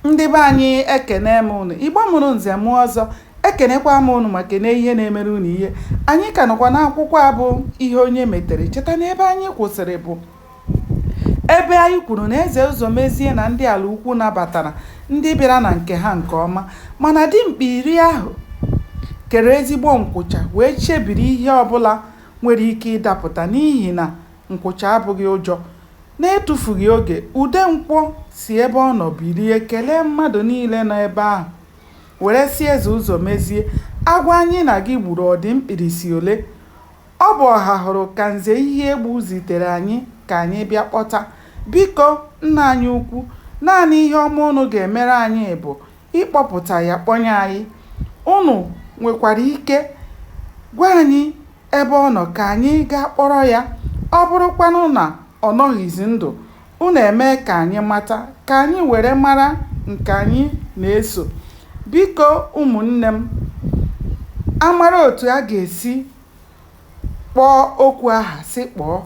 Ndị be anyị ekene m ụnụ, Igbo mụrụ nze mụọ ọzọ, ekenekwa m ụnụ ma kene ihe na-emere ụnụ ihe. Anyị ka nọkwa n'akwụkwọ a bụ ihe onye metere. Cheta na ebe anyị kwụsịrị bụ ebe anyị kwuru na Eze Ụzọmezie na ndị Alaukwu nabatara ndị bịara na nke ha nke ọma mana dimkpa iri ahụ kere ezigbo nkwụcha wee chebiri ihe ọbụla nwere ike ịdapụta n'ihi na Nkwụcha abụghị ụjọ. N'etufughị oge, Udenkwọ si ebe ọ nọ bilie kelee mmadụ niile nọ ebe ahụ, were sị Eze Ụzọmezie, Agwọ anyị na gị gburu ọ dị mkpirisi ole? Ọ bụ Ọhahụrụ ka Nze Iheegbu zitere anyị ka anyị bịa kpọta. Biko, nna anyị ukwu, naanị ihe ọma ụnụ ga-emere anyị bụ ịkpọpụta ya kpọnye anyị. Ụnụ nwekwara ike gwa anyị Ebe ọ nọ, ka anyị gaa kpọrọ ya. Ọ bụrụkwanụ na ọ nọghịzi ndụ, unu emee ka anyị mata, ka anyị were mara nke anyị na-eso. Biko, ụmụnne m, a mara otu a ga-esi kpọọ okwu aha si kpọọ,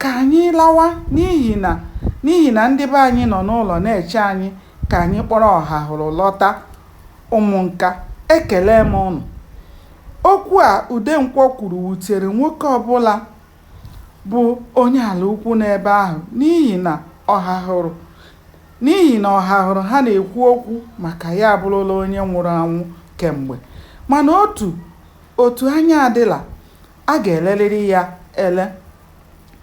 ka anyị lawa n'ihi na n'ihi na ndị be anyị nọ n'ụlọ na-eche anyị ka anyị kpọrọ Ọhahụrụ lọta. Ụmụnka, ekele m unu. Okwu a Udenkwọ kwuru wutere nwoke ọbụla bụ onye Alaukwu nọ ebe ahụ n'ihi na Ọhahụrụ n'ihi na Ọhahụrụ ha na-ekwu okwu maka ya abụrụla onye nwụrụ anwụ kemgbe. Mana otu otu anya adịla, a ga-elerịrị ya ele.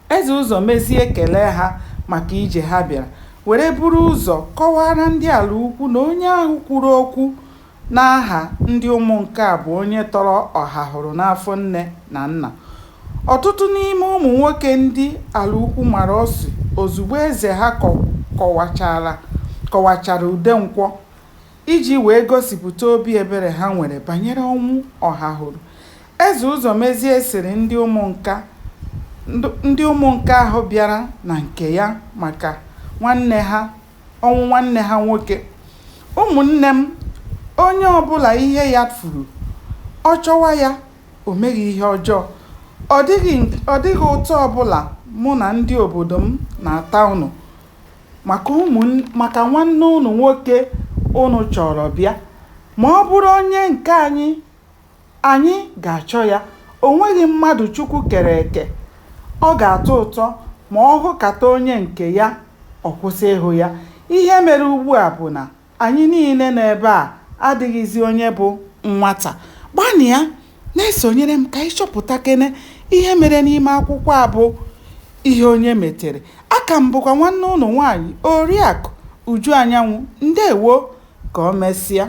Eze Ụzọmezie kelee ha maka ije ha bịara were buru ụzọ kọwaara ndị Alaukwu na onye ahụ kwuru okwu N'aha ndị Ụmụnka bụ onye tọrọ Ọhahụrụ n'afọ nne na nna. Ọtụtụ n'ime ụmụ nwoke ndị Alaukwu mara ọsụ ozugbo eze ha kọwachara kọwachara Udenkwọ iji wee gosipụta obi ebere ha nwere banyere ọnwụ Ọhahụrụ. Eze Ụzọmezie sịrị ndị Ụmụnka ndị Ụmụnka ahụ bịara na nke ya maka nwanne ha ọnwụ nwanne ha nwoke. Ụmụnne m, onye ọbụla ihe ya furu, ọ chọwa ya, o meghị ihe ọjọọ. Ọ dịghị, ọ dịghị ụta ọbụla mụ na ndị obodo m na-ata unu maka ụmụ, maka nwanne unu nwoke unu chọrọ bịa. Ma ọ bụrụ onye nke anyị, Anyị ga-achọ ya. O nweghị mmadụ Chukwu kere eke ọ ga-atọ ụtọ ma ọ hụkata onye nke ya ọ kwụsị ịhụ ya. Ihe mere ugbua bụ na anyị niile nọ ebe a adịghịzi onye bụ nwata. Gbanịa na-esonyere m ka anyị chọpụtakene ihe mere n'ime akwụkwọ a bụ Ihe Onye Metere. Aka m bụkwa nwanne ụnụ nwaanyị Oriakụ Uju Anyanwụ. Ndewo! Ka o mesịa.